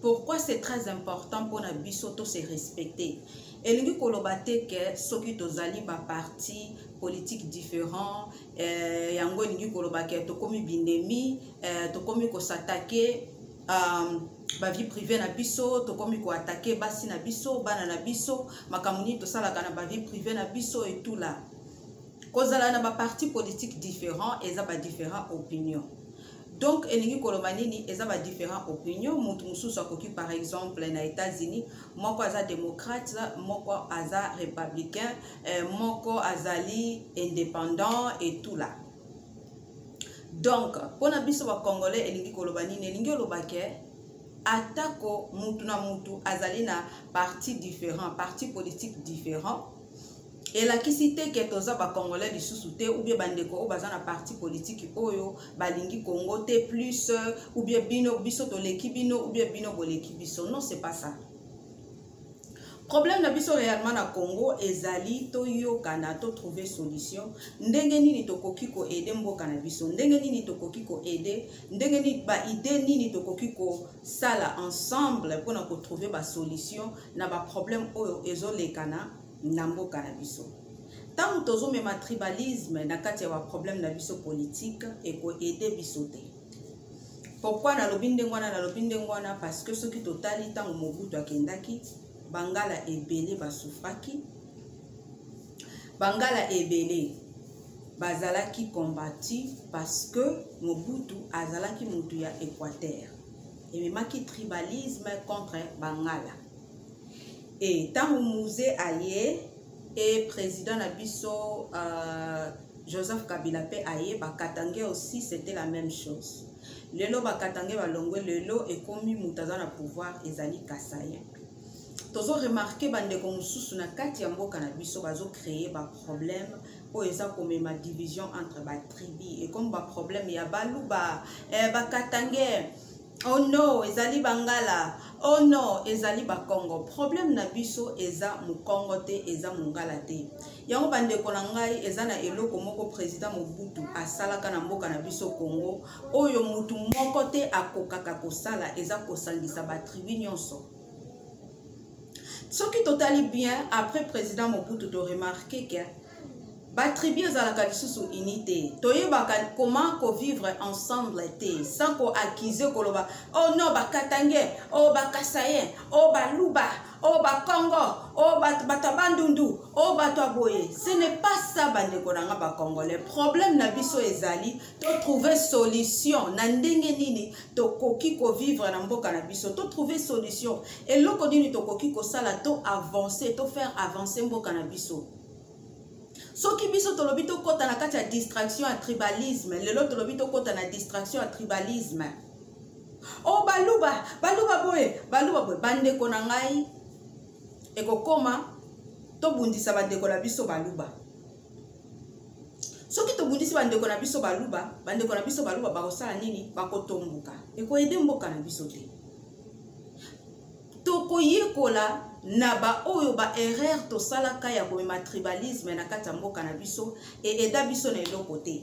pourquoi c'est très important mpona biso to se respecter elingi koloba te ke soki tozali baparti politique différent eh, yango elingi koloba ke tokomi binemi eh, tokomi kosatake um, bavie privé na biso tokomi koatake basi na biso bana na biso makambo nini tosalaka na bavie privé na biso etula kozala na baparti politique différent eza badifférent opinion donc elingi koloba nini eza badifférent opinion moto mosusu akoki par exemple na états-unis moko aza démocrate moko aza républicain eh, moko azali indépendant et tout là donc mpo na biso bacongolais elingi koloba nini elingi oloba ke atako motu na motu azali na parti différent parti politique différent elakisi te ke toza bacongolais lisusu te oubien bandeko oyo baza na parti politiki oyo balingi congo te plus euh, oubien bino biso toleki bino oubien bino boleki biso non c'est pas ça problème na biso réellement na congo ezali toyokana totrouve solution ndenge nini tokoki koede mboka na biso ndenge nini tokoki koede ndenge nini baide nini tokoki ko sala ensemble pona ko trouver ba solution na ba problème oyo ezo lekana na mboka na biso ntango tozomema tribalisme na kati ya baproblème na biso politike ekoede biso te pourkui nalobi ndenge wana nalobi ndenge wana parce que soki totali ntango mobutu akendaki bangala ebele basufraki bangala ebele bazalaki combattu parce que mobutu azalaki motu ya équateur ememaki tribalisme contre bangala e ntango muze aye e président na biso uh, joseph kabila mpe aye bakatange aussi c'était la même chose lelo bakatange balongwe lelo ekomi moto aza na pouvoir ezali kasaye tozo remarke bandeko mosusu na kati ya mboka na biso bazo créer baproblème oyo eza komema division entre batribi ekomi baproblème ya baluba eh, bakatange oh no ezali bangala oh no ezali bakongo problème na biso eza mokongo te eza mongala te yango bandeko na ngai eza na eloko moko président mobutu asalaka na mboka na biso congo oyo motu moko te akokaka kosala eza kosangisa batribu nyonso soki totali bien après président mobutu toremarke ke batribu ezalaka lisusu uni te toyebaka comment kovivre ensemble te sans koaccuse koloba o oh non bakatange o oh bakasaye o oh baluba o bakongo o bato ya bandundu o bato ya boye ce n'est pas ça bandeko na nga bacongolais problème na biso ezali to trouver solution na ndenge nini tokoki kovivre na mboka na biso to trouver solution eloko nini tokoki kosala to avancer to faire avancer mboka na biso soki biso tolobi tokɔta na kati ya distraction ya tribalisme lelo tolobi tokɔta na distraction ya tribalisme o oh, baluba baluba boye baluba boye bandeko na ngai ekokoma tobundisa bandeko na biso baluba soki tobundisi bandeko na biso baluba bandeko na biso baluba bakosala nini bakotomboka ekoyede mboka na biso te tokoyekola na baoyo baerreur tosalaka ya komema tribalisme na kati ya mboka na biso eeda biso na eloko te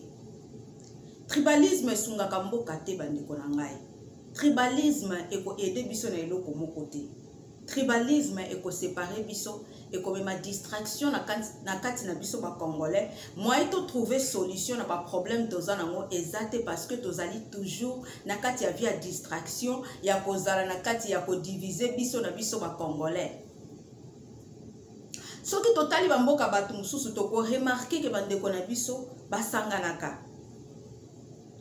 tribalisme esungaka mboka te bandeko na ngai tribalisme ekoede biso na eloko moko te tribalisme ekosepare biso ekomema distraction na kati na biso bacongolais moyen totrouve solution na baproblème toza nango eza te parce que tozali toujours na kati ya vie ya distraction ya kozala na kati ya kodivise biso na biso bacongolais soki totali bamboka bato mosusu tokoremarke ke bandeko na biso basanganaka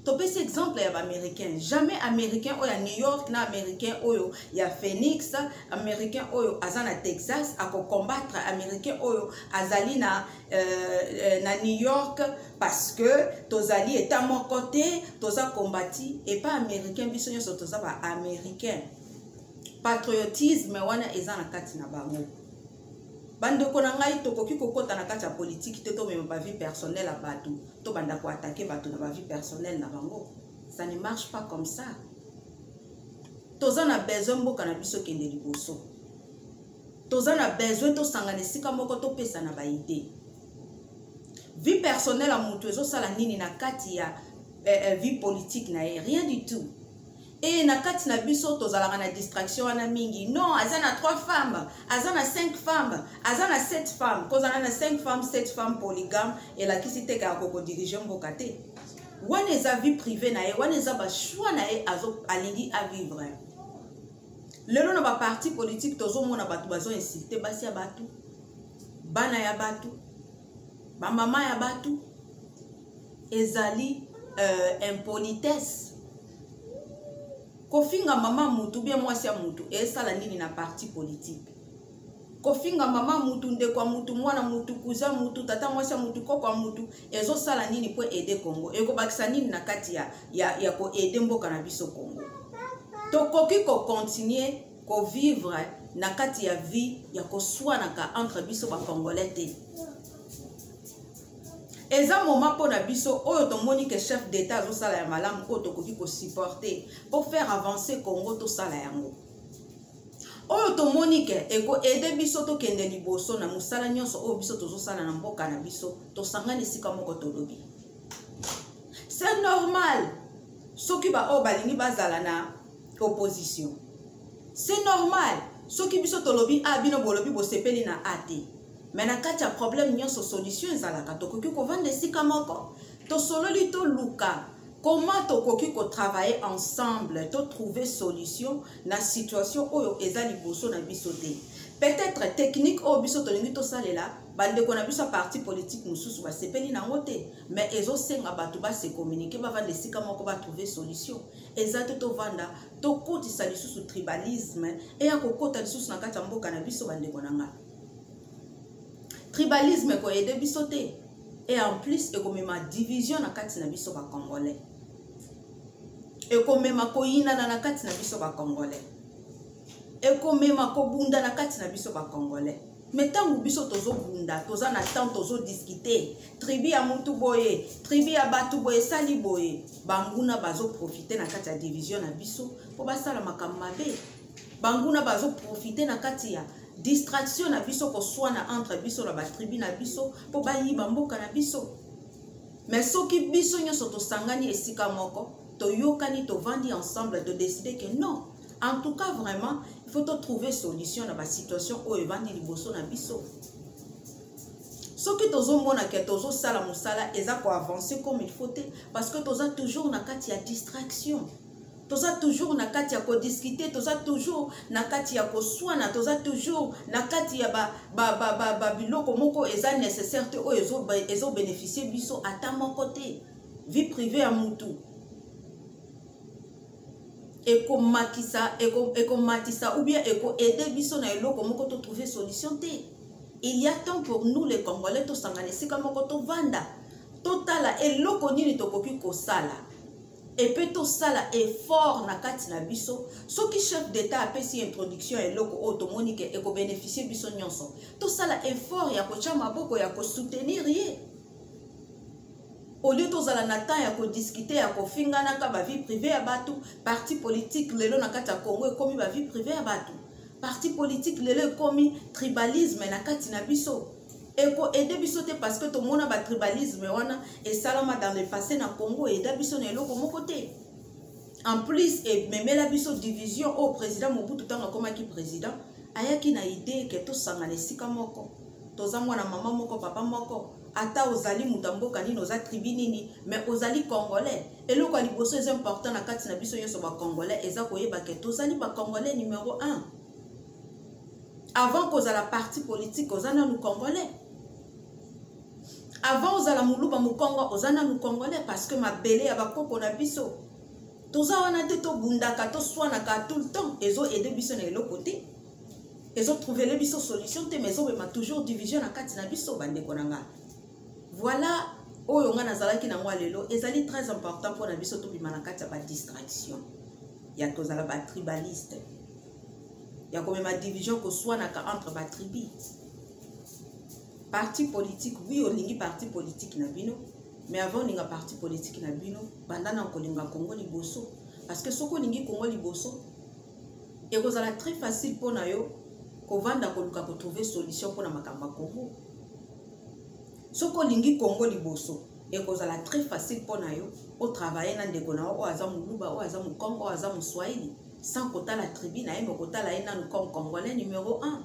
topesi exemple ya baaméricain jamais américain oyo ya new york na américain oyo ya phoenix américain oyo aza na texas akocombatre américain oyo azali na, euh, euh, na new york parce que tozali eta moko te toza combati epa américain biso nyonso toza baaméricain patriotisme wana eza na kati na bango bandeko na ngai tokoki kokɔta na kati ya politiki te tomema bavie personnel ya bato tobanda koatake bato na bavie personnel na bango ça ne marche pas comme ça toza na besoin mboka na biso ekende liboso toza na besoin tosangana esika moko topesana baide vie personnel ya moto ezosala nini na kati ya eh, eh, vie politique na ye rien du tout e na kati na biso tozalaka na distraction wana mingi non aza na 3 femme aza na 5 femme aza na 7 femme kozala na 5 femme 7 femme polygame elakisi te kaka kokodirige mboka te wana eza vie privé na ye wana eza bachoix na ye alingi avivre lelo na baparti politique tozomona bato bazo insulte basi ya bato bana ya bato bamama ya batu ezali euh, impolitesse kofinga mama mutu bie mwasi ya mutu esala nini na parti politike kofinga mama mutu ndeko ya mutu mwana mutu kuza mutu tata mwasi ya mutu koko ya mutu ezosala nini mpo ede congo ekobakisa nini na kati ya, ya, ya koede mboka na biso congo tokoki kokontinue kovivre na kati ya vie ya koswanaka entre biso bacongolais te eza moment mpo na biso oyo tomoni ke chef d'état azosala ya malamu oyo tokoki kosupporte mpo faire avancer congo tosala yango oyo tomoni ke ekoede biso tokende liboso na mosala nyonso oyo biso tozosala na mboka na biso tosangani esika moko tolobi c'est normal soki baoyo balingi bazala na opposition c'est normal soki biso tolobi a ah, bino bolobi bosepeli na a te me na kati ya problème nyonso solution ezalaka tokoki kovanda esika moko tosololi toluka comment tokoki kotravaille ensemble totrouve solution na situation oyo eza liboso na biso te peut-être technique oyo biso tolingi tosalela bandeko na biso ya parti politique mosusu basepeli nango te mais ezosenga bato base communiquer bavanda esika moko batrouve solution eza te tovanda tokotisa lisusu tribalisme eya kokota lisusu na kati ya mboka na biso bandeko na ngai tribalisme ekoyede biso te e en plus ekomema division na kati na biso bacongolais ekomema koyinana na kati na biso bacongolais ekomema kobunda na kati na biso bacongolais me ntango biso tozobunda toza na temps tozodiskite tribu ya motu boye tribu ya bato boye esali boye banguna bazoprofite na kati ya division na biso mpo basala makambo mabe banguna bazoprofite na kati ya distraction na biso koswana entre biso na batribu na biso mpo bayiba mboka na biso me soki biso nyonso tosangani esika moko toyokani tovandi ensemble todeside ke non en tout cas vraiment il faut totrouve solution na basituation oyo evandi liboso na biso soki tozomona ke tozosala mosala eza koavance comme il faut te parce que toza toujours na kati ya distraction toza toujours na kati ya kodiskute toza toujours na kati ya koswana toza toujours na kati ya babiloko moko eza nécessaire te oyo ezobénéficie biso ata moko te vie privée ya mutu ekomatisa eko, eko ou bien ekoaide biso na eloko moko totrouve solution te il y a temps pour nous les congolais tosangana esika moko tovanda totala eloko nini tokoki kosala epe tosala effort na kati na biso soki chef d'état apesi introduction ya eloko oyo tomoni ke ekobeneficie biso nyonso tosala effort ya kotya maboko ya kosoutenir ye olie tozala na temps ya kodiskute ya kofinganaka bavie privé ya bato parti politique lelo na kati ya congo ekomi bavie privé ya bato parti politique lelo ekomi tribalisme na kati na biso ekoede biso te parce que tomona batribalisme wana esalama dans le passé na congo eda biso na eloko moko te en plus ememela biso division oyo président mobutu ntango akomaki président ayaki na idee ke tosangana esika moko toza mwana mama moko papa moko ata ozali moto ya mboka nini oza tribi nini mais ozali congolais eloko ya liboso eza important na kati na biso nyonso bacongolais eza koyeba ke tozali bacongolais numero 1 avant kozala parti politique oza nanu congolais avant ozala moluba mokongo oza nanu congolais parce que mabele ya bakoko na biso toza wana te tobundaka toswanaka tout le temps ezo aide biso na eloko te ezotrouvele biso solution te mais ezobema toujours division na kati na biso bandeko na ngai voilà oyo ngai nazalaki na yango lelo ezali très important mpo na biso tobima na kati ya badistraction ya tozala batribaliste ya komema division koswanaka entre batribi parti politique wi olingi parti politique na bino mais avant olinga parti politique na bino banda na kolinga kongo liboso parce que soki olingi kongo liboso ekozala très facile mpo na yo kovanda koluka kotrouve solution mpo na makambo ya kongo soki olingi congo liboso ekozala très facile mpo na yo otravaille na ndeko na yo oyo aza moluba oyo aza mokongo oyo aza moswahili sans kotala tribu na ye me kotala ye nanu comme congolais numéro 1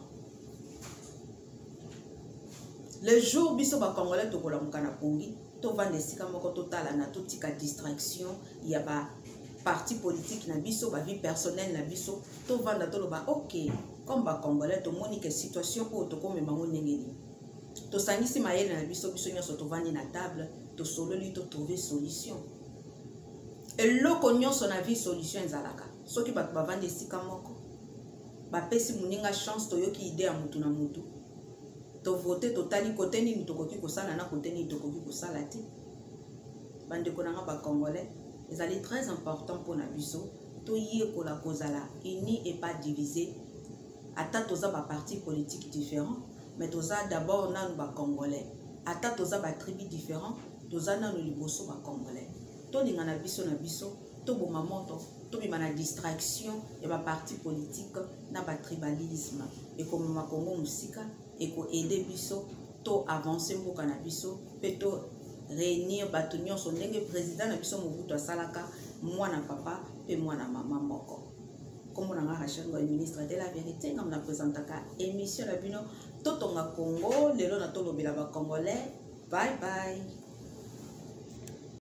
le jour biso bacongolais tokolamuka na pongi tovanda esika moko totalana totika distraction ya ba parti politique na biso ba vie personnelle na biso tovanda toloba ok comme ba congolais tomoni ke situation oyo tokomema ngo ndenge nini tosangisi mayele na biso biso nyonso tovandi na table tosololi totrouve solution eloko nyonso na vie solution ezalaka soki bato bavandi esika moko bapesi moninga chance toyoki ide ya motu na motu tovote totali kote nini tokoki kosala na kote nini tokoki kosala te bandeko na nga bacongolais ezali très important mpo na biso toyekola kozala uni et pas divise ata toza baparti politique différent mais toza d'abord nanu bacongolais ata toza batribu différent toza nanu liboso bacongolais tolingana biso na biso toboma moto tobima na distraction ya baparti politique na batribalisme ekomema kongo mosika eko aide biso to avance mboka na biso mpe to réunir bato nyonso ndenge président na biso mobutu asalaka mwana papa mpe mwana mama moko nkombo na nga rachel ngoy ministre de la vérité nga mna présentaka émission na bino totonga congo lelo na tolobela bacongolais bye bye